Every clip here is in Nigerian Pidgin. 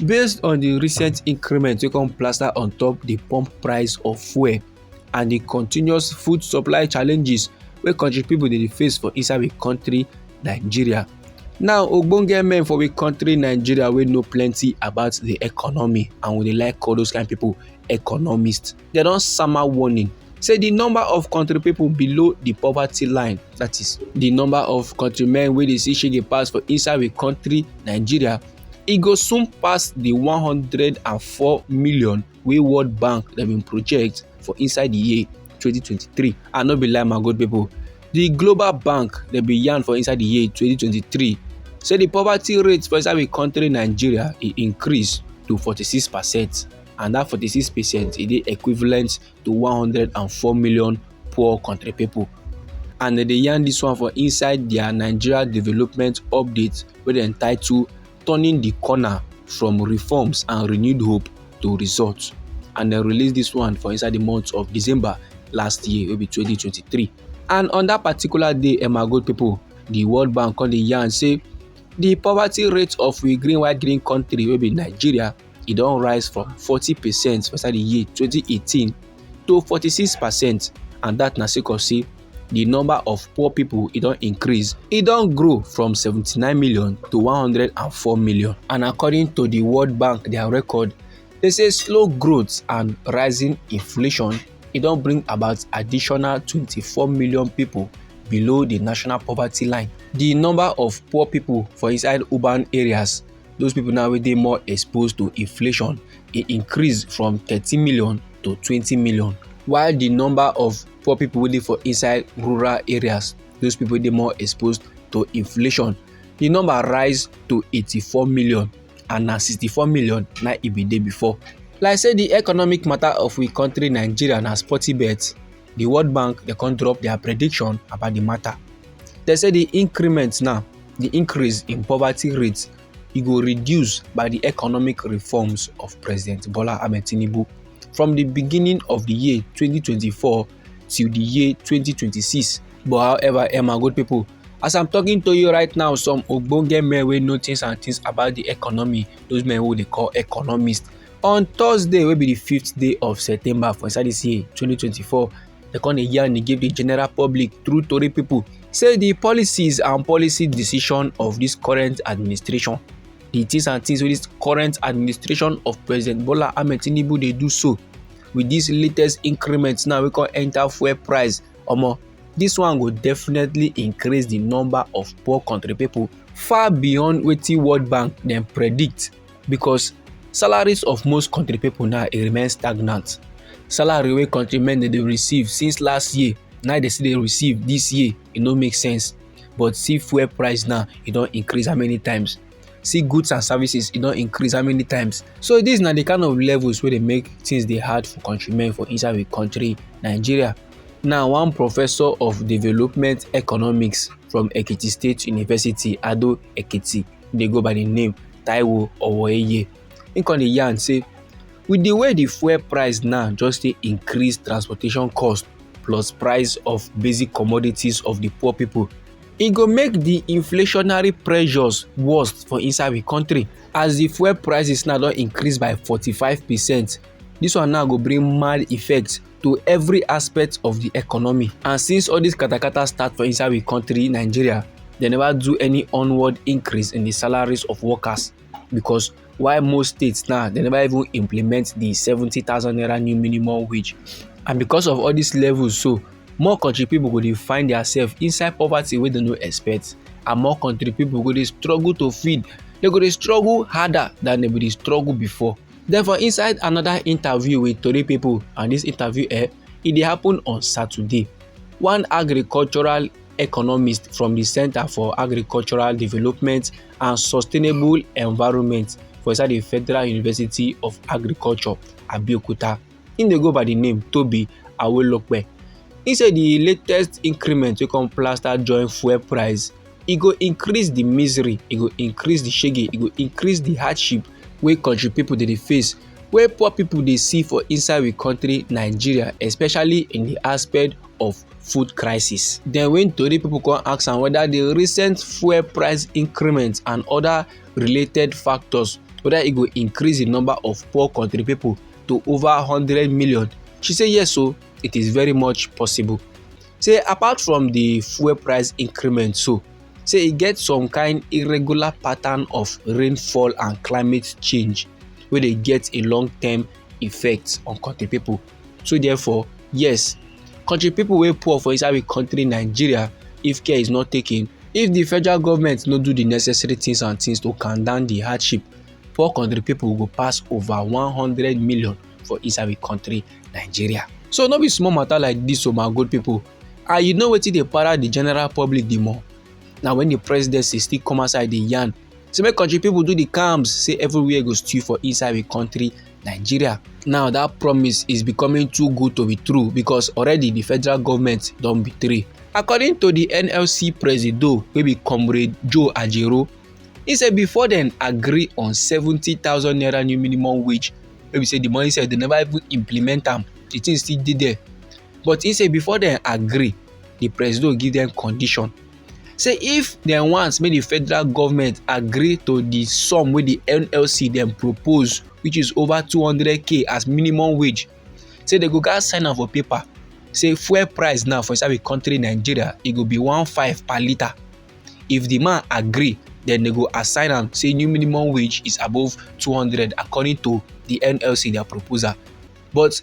based on di recent increment wey come plaster on top di pump price of fuel and di continuous food supply challenges wey country pipo dey face for inside di country nigeria now ogbonge men for we country nigeria wey know plenty about the economy and we dey like call those kind people economists dem don sama warning say di number of kontri pipo below di poverty line that is di number of kontri-men wey dey see shege pass for inside di kontri nigeria e go soon pass di 104 million wey world bank dem bin project for inside di year 2023 and no be lie my good pipo di global bank dem bin yarn for inside di year 2023 say di poverty rate for inside di kontri nigeria e increase to 46 percent. and dat 46 percent e dey equivalent to 104 million poor country pipo and dem dey yarn dis one for inside dia nigeria development update wey dem title turning di corner from reforms and renewed hope to results and dem release dis one for inside di month of december last year wey be 2023 and on dat particular day emma gold pipo di world bank come dey yarn say di poverty rate of we green white green country wey be nigeria e don rise from 40 percent for inside di year 2018 to 46 percent and dat na sake of say di number of poor pipo e don increase e don grow from 79 million to 104 million and according to di world bank dia record dey say slow growth and rising inflation e don bring about additional 24 million pipo below di national poverty line di number of poor pipo for inside urban areas those people now wey dey more exposed to inflation e increase from thirteen million to twenty million while the number of poor people wey dey for inside rural areas those people dey more exposed to inflation the number rise to eighty-four million and na sixty-four million na e bin dey before like say the economic matter of we country nigeria na sporty bet the world bank dey come drop their prediction about the matter they say the increment now di increase in poverty rate e go reduce by di economic reforms of president bola ahmed tinubu from di beginning of di year 2024 till di year 2026 but however emma good pipo as i'm talking to you right now some ogbonge men wey know things and things about di economy those men wey dey call economists on thursday wey be di fifth day of september for inside dis year 2024 They come dey yarn dey give the general public through Tory people say the policies and policy decision of this current administration, the things and things wey this current administration of President Bola Ahmed Tinubu dey do so with this latest increment now wey come enter fuel price, omo this one go definitely increase the number of poor country people far beyond wetin World Bank dem predict. because salaries of most country people now e remain stagnant salary wey country men dey receive since last year now they still dey receive this year e no make sense but see fuel price now e don increase how many times see goods and services e don increase how many times so dis na the kind of levels wey dey make things dey hard for countrymen for inside we country nigeria now one professor of development economics from ekiti state university ado ekiti dey go by the name taiwo owoeye he come dey yarn say with the way the fuel price now just dey increase transportation cost plus price of basic commodities of the poor people e go make the inflationary pressures worse for inside the country as the fuel prices now don increase by forty-five percent this one now go bring mad effect to every aspect of the economy and since all this katakata start for inside we country nigeria they never do any onward increase in the salaries of workers because why most states now they never even implement the seventy thousand naira new minimum wage and because of all these levels so more country people go dey find themselves inside poverty wey dem no expect and more country people go dey struggle to feed they go dey struggle harder than they go dey struggle before Then for inside another interview with Tori people and this interview eh, e dey happen on Saturday. One agricultural economist from the Center for Agricultural Development and Sustainable Environment for inside the Federal University of Agriculture, Abeokuta. He dey go by the name Tobi Awolope. He say the latest increment wey come plaster join fuel price, e go increase the misery, e go increase the shege, e go increase the hardship wey country people dey dey face, wey poor people dey see for inside we country Nigeria, especially in the aspect of food crisis. Then when Tori people come ask am whether the recent fuel price increment and other related factors whether e go increase the number of poor country people to over 100 million? She said, yes, so it is very much possible. Say apart from the fuel price increment, so say e get some kind irregular pattern of rainfall and climate change wey dey get a long term effect on country people. So therefore, yes, country people wey poor for inside the country Nigeria if care is not taken if the federal government no do the necessary things and things to calm down the hardship poor country people go pass over 100 million for inside the country nigeria so no be small matter like this, o oh my good people and you know wetin dey para the general public the more na when the presidency still come outside dey yarn say make country people do the calms say everywhere go stew for inside the country nigeria now that promise is becoming too good to be true because already the federal government don betray according to the nlc presido wey be comrade joe ajero He say before dem agree on seventy thousand naira new minimum wage wey be say the money sef dem never even implement am the thing still dey there but he say before dem agree the presido give dem condition say if dem want make the federal government agree to the sum wey the nlc dem propose which is over two hundred k as minimum wage say dem go gats sign am for paper say fuel price now for inside the country nigeria e go be one five per litre if the man agree then they go assign am say new minimum wage is above 200 according to the nlc their proposal but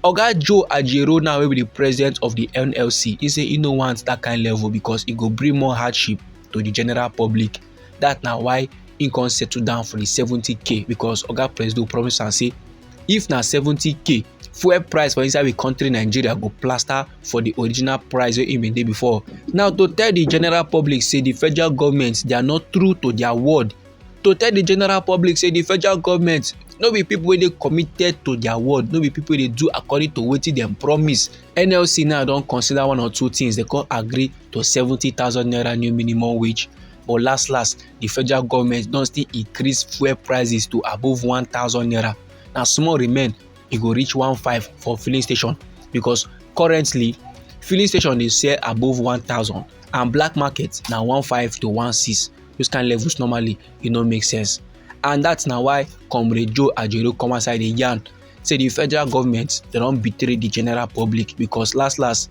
oga joe ajero now will be the president of the nlc He say he no want that kind level because it go bring more hardship to the general public that now why he can settle down for the 70k because oga presido promise and say if na 70k fuel price for inside we country nigeria go plaster for the original price wey e bin dey before now to tell the general public say the federal government they are not true to their word to tell the general public say the federal government no be people wey dey committed to their word no be people wey dey do according to wetin dem promise nlc now don consider one or two things dem come agree to seventy thousand naira new minimum wage but last last the federal government don still increase fuel prices to above one thousand naira na small remain e go reach one five for filling station because currently filling station dey sell above one thousand and black market na one five to one six those kind levels normally e no make sense and that na why comrade joe ajero come outside dey yarn say the federal government dem don betray the general public because last last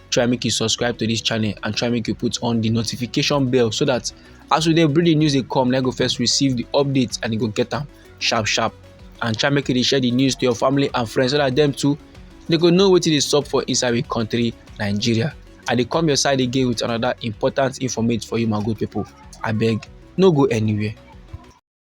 try make you subscribe to this channel and try make you put on the notification bell so that as we dey bring the news dey come na go first receive the updates and you go get them sharp sharp and try make you dey share the news to your family and friends so that them too they go know wetin dey sup for inside the country nigeria i dey come your side again with another important informate for you my good people abeg no go anywhere.